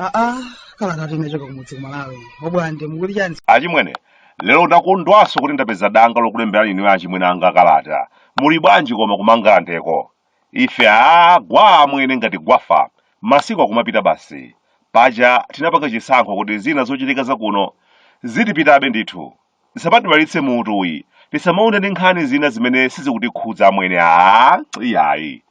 aa kalata yochoka kumudzi kumalawi abwande mukuti chani achimwene lero ndakondwanso kuti ndapeza danga lokulemberani inu achimwene anga kalata muli bwanji koma ku Mangalandeko Ife aa gwaa amwene ngati gwafa masiku akumapita basi. Paja tinapanga chisankho kuti zina zochitika zakuno zitipitabe ndithu. Zisamatiwawitse mutu ayi tisamaonde ndi nkhani zina zimene sizikutikhudza amwene aa iyayi.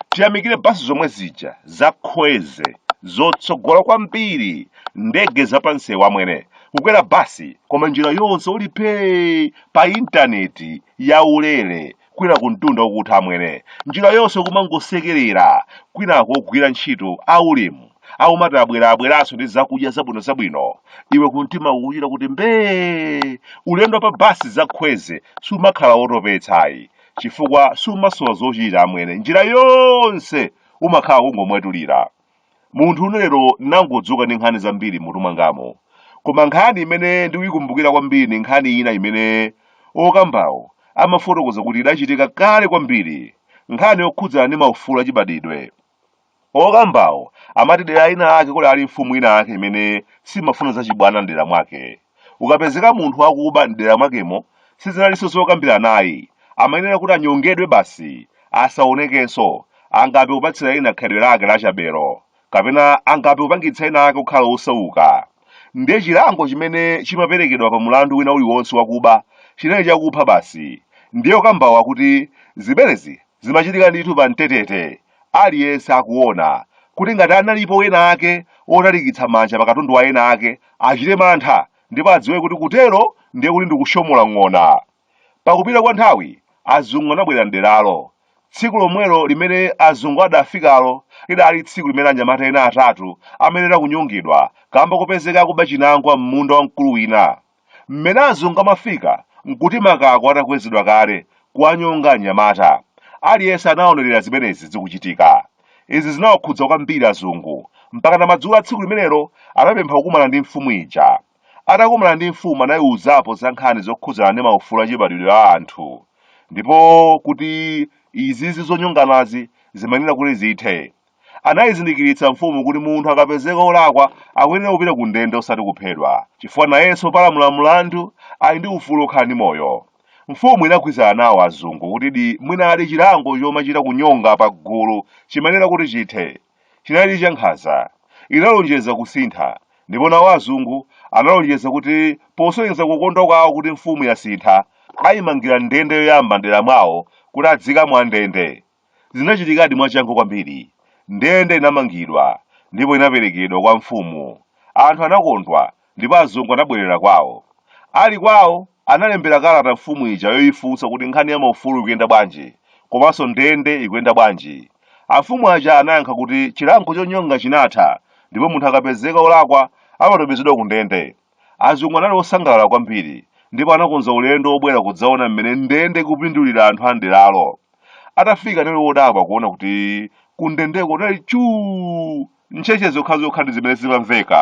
Tiyamikire basi zomwe zija za Khweze zotsogola kwambiri ndege za pansewu amwene kukwera basi koma njira yonse uli phee pa intaneti yaulere kwina kumtunda kukutha amwene njira yonse kumangosekerera kwinako ogwira ntchito aulemu akumati abwera abweranso ndi zakudya zabwino zabwino iwe kumtima kukuchita kuti mbee ulendo pa basi za Khweze siumakhala wotopetsayi chifukwa siumasowa zochita amwene njira yonse umakhala kungomwetulira Munthune lero nangodzuka ndi nkhani zambiri mmutu mwangamo. Koma nkhani imene ndikuyikumbukira kwambiri ndi nkhani ina imene okambawo amafotokoza kuti idachitika kale kwambiri, nkhani yokhudzana ndi maufulu achibadidwe. Okambawo amati dera linalake kudali mfumu inayake imene simafuna zachibwana m'dera mwake. ukapezeka munthu wakuba m'dera mwakemo sizinalinso zokambiranayi amayenera kuti anyongedwe basi asaonekenso angape kupatsira ena khalidwe lake lachabelo kapena angape kupangitsa ena ake kukhala osauka ndiye chilango chimene chimaperekedwa pa mulandu wina uliwonse wakuba chinali chakupha basi ndiye okambawa akuti zimenezi zimachitika ndithu pa mtetete aliyense akuona kuti ngati analipo ena ake otalikitsa manja pa katundu wa ena ake achite mantha ndipo adziwe kuti kutero ndiye kuti ndikushosola ng'ona pakupita kwa nthawi azungu anabwera mderalo tsiku lomwelo limene azungu adafikalo lidali tsiku limene anyamata ena atatu amayenera kunyongedwa kamba kopezeka akuba chinangwa m'munda wa mkulu wina Mmene azungu amafika n'kuti makako atakwezedwa kale, kuwanyonga anyamata. Aliyense anaonerera zimenezi zikuchitika. Izi zinawakhudza kwambiri azungu, mpakana madzulo a tsiku limenelo anapempha kukumana ndi mfumu ija. Atakumana ndi mfumu anaiuzapo za nkhani zokhudzana ndi maufulu achibadwidwe a anthu, ndipo kuti izizi zonyonganazi zimayenera kuti zithe. Anaizindikiritsa mfumu kuti munthu akapezeka olakwa akuyenera kupita ku ndende osati kuphedwa, chifukwa nayenso opalamula mlandu ali ndi ufulu okhala ndi moyo. Mfumu inagwirizana nawo azungu kutidi mwinadi chilango chomachita kunyonga pa gulu chimayenera kuti chithe. Chinalidi cha nkhanza. Inalonjeza kusintha, ndipo nawo azungu analonjeza kuti posonyeza kukondwa kwawo kuti mfumu yasintha, aimangira ndende yoyamba m'dera mwawo kuti adziikamo andende. Zinachitikadi mwachangu kwambiri. Ndende inamangidwa ndipo inaperekedwa kwa mfumu. Anthu anakondwa ndipo azungu anabwerera kwawo. Ali kwawo, analembera kalata mfumu ija yoifunsa kuti nkhani ya maufulu ikuyenda bwanji, komanso ndende ikuyenda bwanji. Amfumu aja anayankha kuti chilango chonyonga chinatha ndipo munthu akapezeka wolakwa amatumizidwa kundende. Azungu anali osangalala kwambiri ndipo anakonza ulendo wobwera kudzaona mmene ndende ikupindulira anthu a m'deralo. Atafika anali odabwa kuona kuti kundendeko kunali chuu! Ntchetche zokhazokha ndi zimene zimamveka.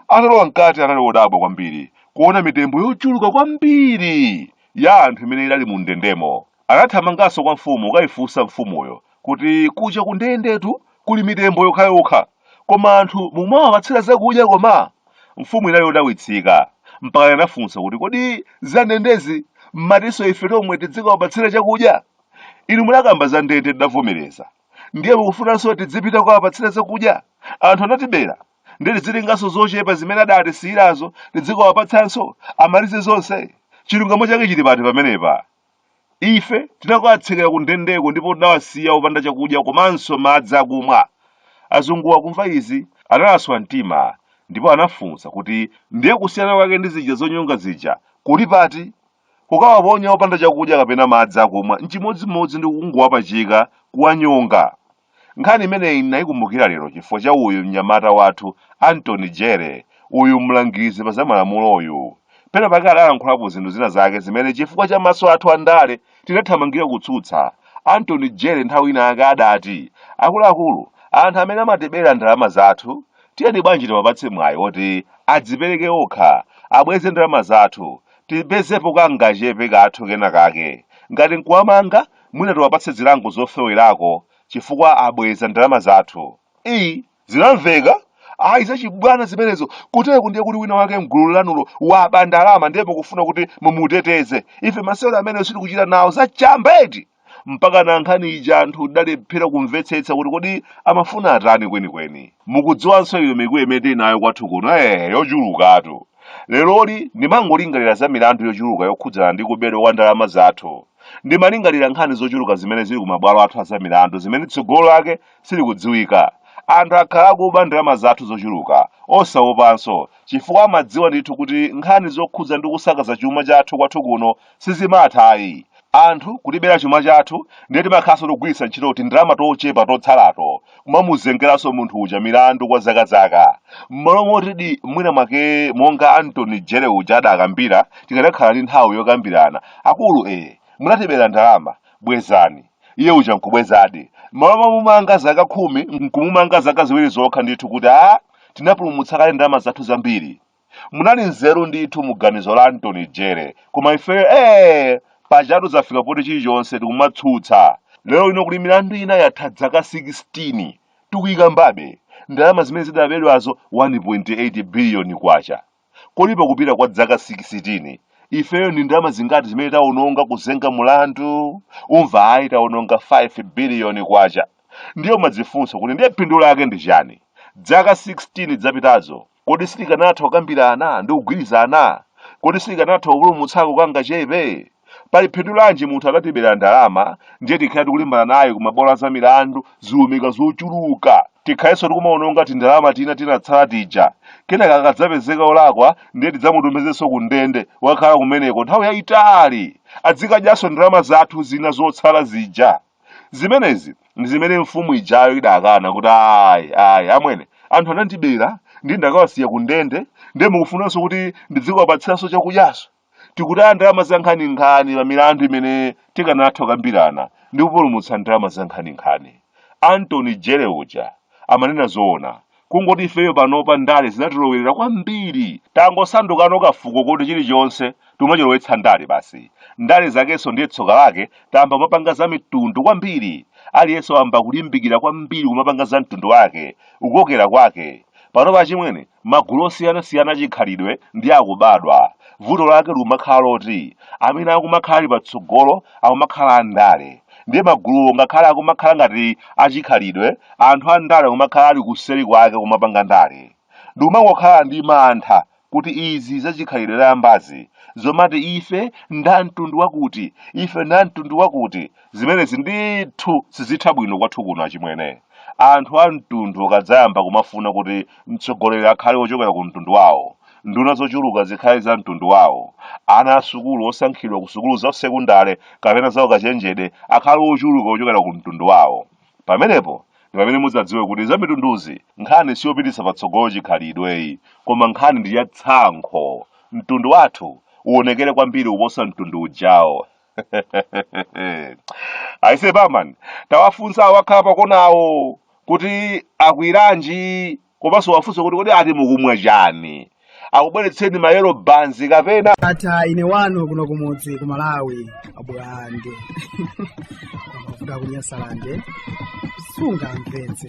Atalowa mkati anali odabwa kwambiri kuona mitembo yochuluka kwambiri ya anthu imene idali mundendemo. Anathamanganso kwa mfumu kukaifunsa mfumuyo kuti, Kuja kundendetu kuli mitembo yokhayokha, koma anthu mumawapatsira zakudya koma? Mfumu inali yodabwitsika, mpaka inafunsa kuti, Kodi za ndendezi m'matinso ife tomwe tidzikawapatsira chakudya? Inu munakamba za ndende tidavomereza. Ndiye mukufunanso tidzipita kukawapatsira zakudya? Anthu anatibera, ndiye tidzitenganso zochepa zimene adatisiyirazo tidzikawapatsanso, amalize zonse? Chilungamo chake chili pati pamenepa? Ife tinakawatsekera kundendeko ndipo tinawasiya opanda chakudya komanso madzi akumwa. Azungu akumva izi, analaswa mtima ndipo anafunsa kuti, Ndiye kusiyana kwake ndi zija zonyonga zija kuli pati? Kukawaponya opanda chakudya kapena madzi akumwa n'chimodzimodzi ndi kungowapachika, kuwanyonga. Nkhani imeneyi ndinayikumbukira lero chifukwa cha uyu mnyamata wathu Anthony Jere, uyu mlangizi pa zamalamuloyu. Pena pake adalankhulapo zinthu zina zake zimene chifukwa cha maso athu a ndale tinathamangira kutsutsa. Anthony Jere nthawi ina yake adati, Akuluakulu, anthu amene amatibera ndalama zathu, tiyeni bwanji tiwapatse mwayi woti adzipereke okha, abweze ndalama zathu, tipezepo kangachepe kathu kena kake. Ngati n'kuwamanga, mwina tiwapatse zilango zofewerako chifukwa abweza ndalama zathu iyi zinamveka ayi zachibwana zimenezo kutereku ndiye kuti wina wake mgulu lanulo waba ndalama ndiye mukufuna kuti mumuteteze ife masewero amenewo sitikuchita nawo zachamba eti mpaka na nkhani ija anthu tidalephera kumvetsetsa kuti kodi amafuna atani kwenikweni mukudziwanso iyo mikwiyo imene tili nayo kwathu kuno eh yochulukatu leroli ndimangolingalira za milandu yochuluka yokhudzana ndi kubedwa kwa ndalama zathu Ndimalingalira nkhani zochuluka zimene zili ku mabwalo athu azamilandu zimene tsogolo lake silikudziwika. Anthu akhala akuba ndalama zathu zochuluka, osawopanso, chifukwa amadziwa ndithu kuti nkhani zokhudza ndi kusakaza chuma chathu kwathu kuno sizimatha ayi. Anthu kutibera chuma chathu ndiye timakhalanso tikugwiritsa ntchito tindalama tochepa totsalato, kumamuzengeranso munthu uja milandu kwa zakazaka m'malo moti mwina mwake monga Antony Jere uja adakambira tikadakhala ndi nthawi yokambirana akulu munatibera ndalama bwezani iye uja nkubwezadi m'malo momumanga zaka khumi nkumumanga zaka ziwiri zokha ndithu kuti a tinapulumutsa kale ndalama zathu zambiri munali nzeru ndithu mu ganizo la Antony Jere koma ifeyo ee pajatu zafika poti chilichonse tikumatsutsa lero lino kuli milandu ina yatha dzaka 16 tikuyikambabe ndalama zimene zidabedwazo 1.8 biliyoni kwacha kodi pakupita kwa dzaka 16 ifeyo ndi ndalama zingati zimene tawononga kuzenga mlandu umva ayi tawononga 5 biliyoni kwacha ndiye umadzifunsa kuti ndiye phindu lake ndi chani dzaka 16 zapitazo Kodi sitikanatha kukambirana ndi kugwirizana? Kodi sitikanatha kupulumutsako kangachepe? Pali phindu lanji munthu akatibera ndalama ndiye tikhale tikulimbana naye ku mabwalo a zamilandu ziumika zochuluka? Tikhalenso tikumawononga tindalama tina tinatsala tija. Kenaka akadzapezeka wolakwa ndiye tidzamutumizenso ku ndende akakhale kumeneko nthawi yayitali. Adzikadyanso ndalama zathu zina zotsala zija. zimenezi ndi zimene mfumu ijayo idakana kuti ayi ayi amwene anthu anandibera ndi ndakawasiya ku ndende ndiye mukufunanso kuti ndidzikawapatsiranso chakudyanso tikutaya ndalama zankhaninkhani pa milandu imene tikanatha kukambirana ndi kupulumutsa ndalama zankhaninkhani Antony Jere uja amanena zoona kungoti ifeyo panopa ndale zinatilowerera kwambiri tangosandukano kafuko koti chilichonse tumachilowetsa ndale basi ndale zakenso ndiye tsoka lake tayamba kumapanga za mitundu kwambiri aliyense wayamba kulimbikira kwambiri kumapanga za mtundu wake kukokera kwake panopa achimwene magulu osiyanasiyana achikhalidwe ndi akubadwa vuto lake likumakhala loti amene akumakhala ali patsogolo akumakhala andale ndiye maguluwo ngakhale akumakhala ngati achikhalidwe anthu andale akumakhala ali kuseri kwake kumapanga ndale ndikumangokhala ndi mantha kuti izi zachikhalidwe zayambazi zomati ife nda mtundu wakuti ife nda mtundu wakuti zimenezi ndithu sizitha bwino kwathu kuno achimwene anthu a mtundu akadzayamba kumafuna kuti mtsogoleri akhale wochokera ku mtundu wawo nduna zochuluka zikhale za mtundu wawo ana a sukulu osankhidwa ku sukulu za sekundale kapena za ukachenjede akhale ochuluka ochokera ku mtundu wawo pamenepo ndi pamene mudzadziwe kuti za mitunduzi nkhani siyopititsa patsogolo chikhalidweyi koma nkhani ndi ya tsankho mtundu wathu uonekere kwambiri kuposa mtundu ujawo aise bamani tawafunsa awo akhala pakonawo kuti akwiranji komanso wafunsa kuti kodi ati mukumwa chani akubweretseni mayero banzi kapena ata ine wanu kuno kumudzi ku malawi abulande amavuta kunyasalande sungamvetse